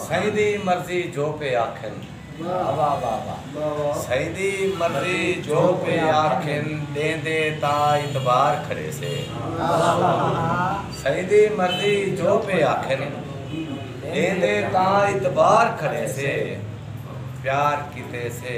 سئیں دی مرضی جو پئے آکھن۔ واہ واہ واہ واہ سئیں دی مرضی جو پئے آکھن ݙیندے تاں اعتبار کھڑیسے سئیں دی مرضی جو پئے آکھن ݙیندے تاں اعتبار کھڑیسے پیار کیتے سے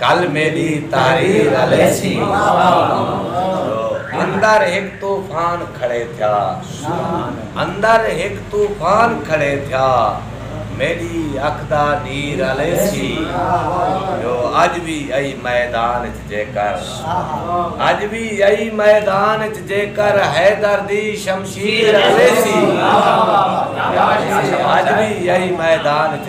کل میݙی تحریر الیسی اندر ہک طوفان کھڑے تھیا اندر ہک طوفان کھڑے تھیا میݙی اکھ دا نیر الیسی جو اڄ وی ائی میدان اچ جیکر اڄ وی ائی میدان اچ جیکر حیدر دی شمشیر الیسی اڄ وی ائی میدان اچ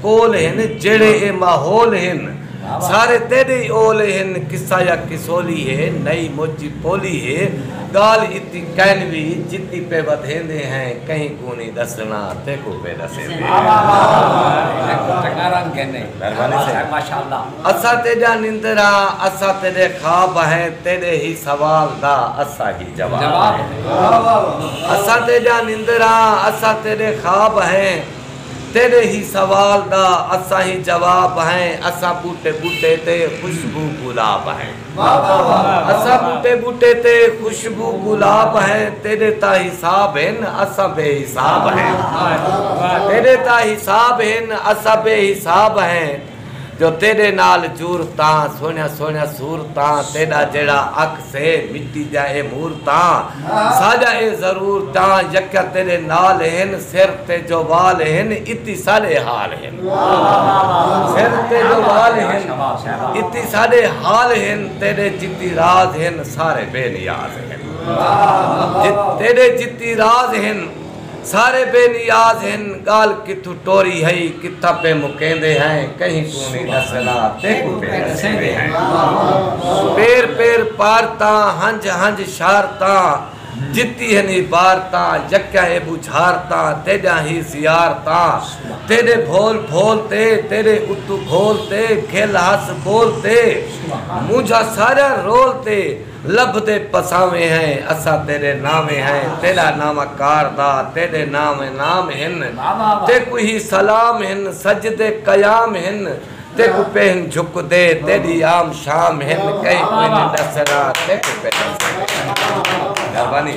کول ہن جیڑھے اے ماحول ہن سارے تیڈے ای اول ہن قصہ یا قصولی ہے نئی مچ ای پولی ہے گالھ اتی کین وی جتی پے ودھیندے ہیں کہیں کوں نی ڈسنا تیکوں پے ڈسیندے ہیں اساں تیڈا نندر ہاں اساں تیڈے خواب ہیں تیڈے ہی سوال دا اساں ہی جواب ہیں اساں تیڈا نندر ہاں اساں تیڈے خواب ہیں تیڈے ہی سوال دا اساں ہی جواب ہیں اساں بوٹے بوٹے تے خوشبو گلاب ہیں اساں بوٹے بوٹے تے خوشبو گلاب ہیں تیڈے تاں حساب ہن اساں بے حساب ہیں تیڈے تاں حساب ہن اساں بے حساب ہیں جو تیڈے نال جورتاں سوہنیاں سوہنیاں صورتاں تیڈا جیڑھا عکس ہے مٹی دیاں اے مورتاں ساڈا اے ضرور تاں یکیاں تیڈے نال ہن سر تے جو وال ہن اتی ساڈے حال ہن سر تے جو وال ہن اتی ساڈے حال ہن تیڈے جتی راز ہن سارے بے نیاز ہن تیڈے جتی راز ہن سارے بے نیاز ہن گالھ کتھوں ٹوری ہئی کتھاں پے مکیندے ہیں کہیں کوں نی ڈسیندے تیکوں پے ڈسیندے ہیں پیر پیر پار تاں ہنج ہنج شار تاں جتی ہن ای بار تاں یکیاں اے بوجھار تاں تیڈیاں ہی زیار تاں تیڈے بھول بھول تے تیڈے اتوں گھول تے گھل ہس بول تے مونجھا ساریاں رول تے لبھدے پساویں ہیں اساں تیڈے ناویں ہیں تیڈا ناواں کاردا تیڈے ناویں نام ہن تیکوں ہی سلام ہن سجدے قیام ہن تیکوں پہن جھکدے تیڈی عام شام ہن کہیں کوئی نی ڈسدا تیکوں پہن جھکدے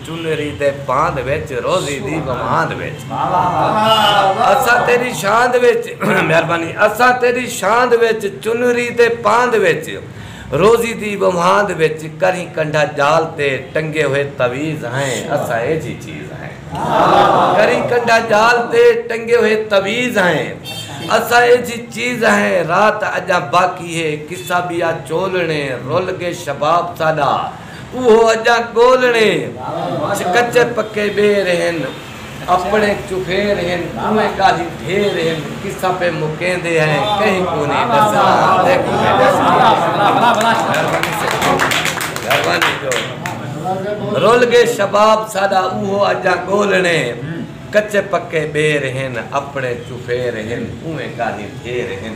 چنری تے پاند وچ روزی دی وماند وچ اساں تیڈی شاند وچ مہربانی اساں تیڈی شاند وچ چنری تے پاند وچ روزی دی وماند وچ کریں کنڈھا جال تے ٹنگے ہوئے تعویذ ہیں اساں ایجھی چیز ہیں کریں کنڈھا جال تے ٹنگے ہوئے تعویذ ہیں اساں ایجھی چیز ہیں رات اجاں باقی ہے قصہ بیا چولنے رل گے شباب ساڈا اوہو اجاں ڳولڑے چ کچے پکے ٻیر ہن اپڑے چوخیر ہن اونویں ڳالھیں ڈھیر ہن قصہ پئے مکیندے ہیں کہیں کونیں ݙسݨا رل ڳئے شباب ساݙا اوہو اجاں ڳولڑے کچے پکے ٻیر ہن اپڑے چوخیر ہن اونویں ڳالھیں ڈھیر ہن۔